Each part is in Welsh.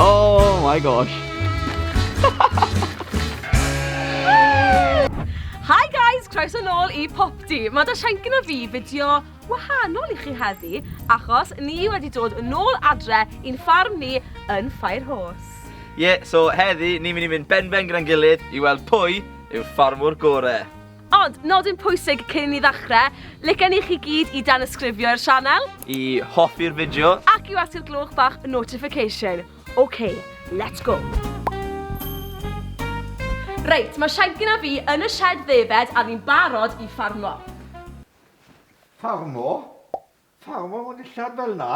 Oh my gosh. Hi guys, croeso nôl i Popty. Mae da Sianc gyda fi fideo wahanol i chi heddi, achos ni wedi dod yn ôl adre i'n ffarm ni yn Ffair Hos. Ie, yeah, so heddi ni'n mynd i fynd ben-ben gyda'n gilydd i weld pwy yw'r ffarmwr gore. Ond, nodyn pwysig cyn i ni ddechrau, licen i chi gyd i danysgrifio i'r sianel. I hoffi'r fideo. Ac i weld y gloch bach notification. Ok, let's go! Reit, mae Shankin a fi yn y sied ddefaid a ni'n barod i ffarmo. Ffarmo? Pam am fod dillad fel 'na?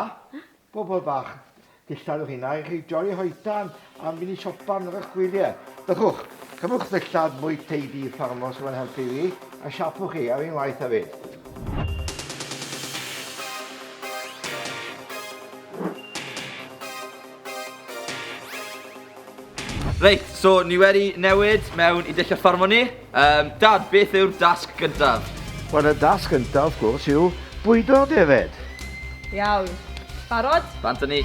Bobol bach, dillad yw hynna i chi joli hoetan am fynd i siopa am eich gwylie. Bychwch, cymwch ddillad mwy tidy ffarmwr sydd yn helpu fi a siapo chi ar un waith hefyd. Reit, so ni wedi newid mewn i dulliau ffarmo ni. Um, Dad, beth yw'r dasg gyntaf? Wel, y dasg gyntaf, wrth gwrs, yw bwydo'r defed. Iawn. Barod? Bant â ni.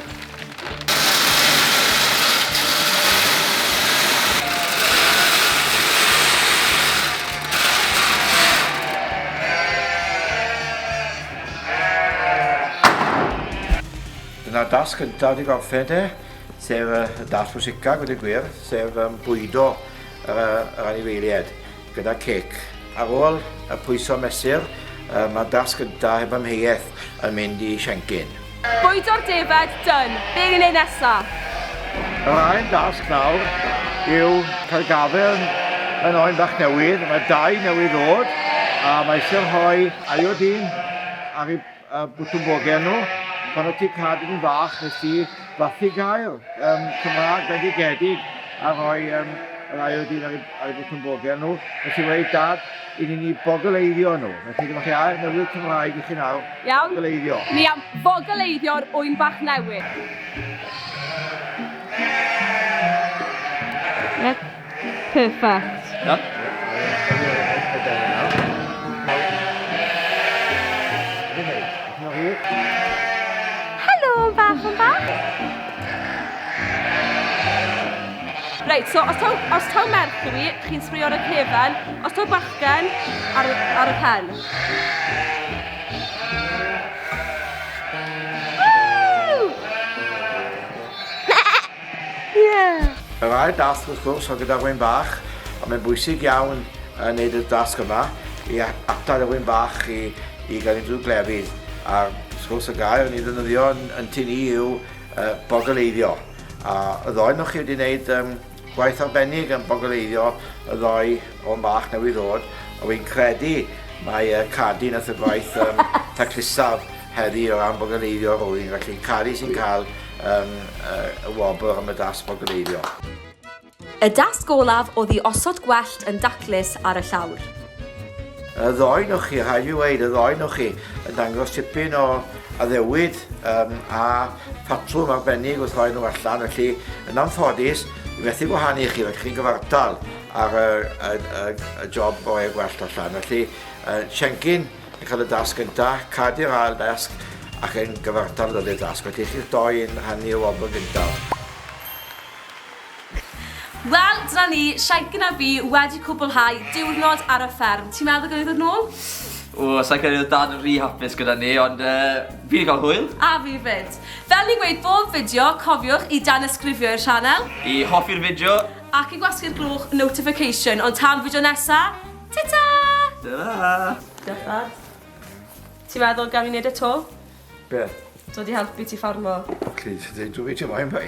Dyna'r dasg gyntaf wedi gorffen de, sef y dasg pwysica, gwneud gwir, sef um, bwydo yr, yr anifeiliaid. gyda cec. Ar ôl y pwyso mesur, mae'r dasg gyntaf heb amheuaeth yn mynd i Siencyn. Bwydo'r defaid dân, be ni'n neud nesa? Yr ail dasg nawr yw cael gafael yn oen bach newydd, mae dau newydd ddod a mae eisiau rhoi iodine ar ei A bwtwm bogen nhw. Pan o ti'n cadw yn fach, nes i fathu gael um, Cymraeg bendigedig a rhoi um, yr ail dyn ar, ar y bwtwm bogen nhw. Nes i weid dad, i ni'n i bogoleiddio nhw. Felly dyma chi air newydd Cymraeg i chi nawr. Iawn. Bogoleiddio. Ni am bogoleiddio'r ŵyn bach newydd. Yep. Perfect. Helo, bach yn bach. Reit, so os taw, os taw Mercury, chi'n sbrio ar y cefen, os taw bachgen, ar, ar y pen. Yeah! Yr ail dasg wrth gwrs oedd gyda'r ŵyn bach, a mae'n bwysig iawn yn neud y dasg yma i atal y ŵyn bach i, i gael ei drwy glefyd. A wrth gwrs y gair yn ei ddynyddio yn, yn tu ni yw uh, bogoleiddio. A y ddoi nhw chi wedi gwneud um, gwaith arbennig yn bogoleiddio y ddoi o'n bach newydd ddod, a wy'n credu mae uh, Cadi nath y gwaith um, taclusaf Heddi o ran bogaleiddio rwyf yn gallu caru sy'n cael yn y wobr am y dasg bogaleiddio. Y dasg olaf oedd i osod gwellt yn daclus ar y llawr. Y ddoen o chi, rhaid i weid, y ddoen o chi yn dangos tipyn o addewid um, a patrwm arbennig wrth roi nhw allan, felly yn anffodus, i methu gwahanu chi, felly chi'n gyfartal ar y, y, y, y job o ei gwellt allan. Felly, uh, Siencyn, Yn cael y dasg gyntaf, cad i'r ail dasg ac yn gyfartal ddod i'r dasg. Mae gen chi'ch dou yn rhannu y wobr gyntaf. Wel, dyna ni, Siencyn a fi wedi cwblhau diwrnod ar y fferm. Ti'n meddwl gawn ni ddod nôl? O, sa'n credu oedd Dad yn rhy hapus gyda ni, ond fi wedi cael hwyl. A fi 'fyd. Fel ni'n gweud bob fideo, cofiwch i danysgrifio i'r sianel. I hoffi'r fideo. Ac i gwasgu'r gloch notification, ond tan fideo nesa, Ta-ta! Ta-ra! Diolch, Dad. Ti'n meddwl gael fi'n neud e to? Be? Dod i helpu ti ffarmo. Plîs, dwi 'di dweud ti moyn, boi.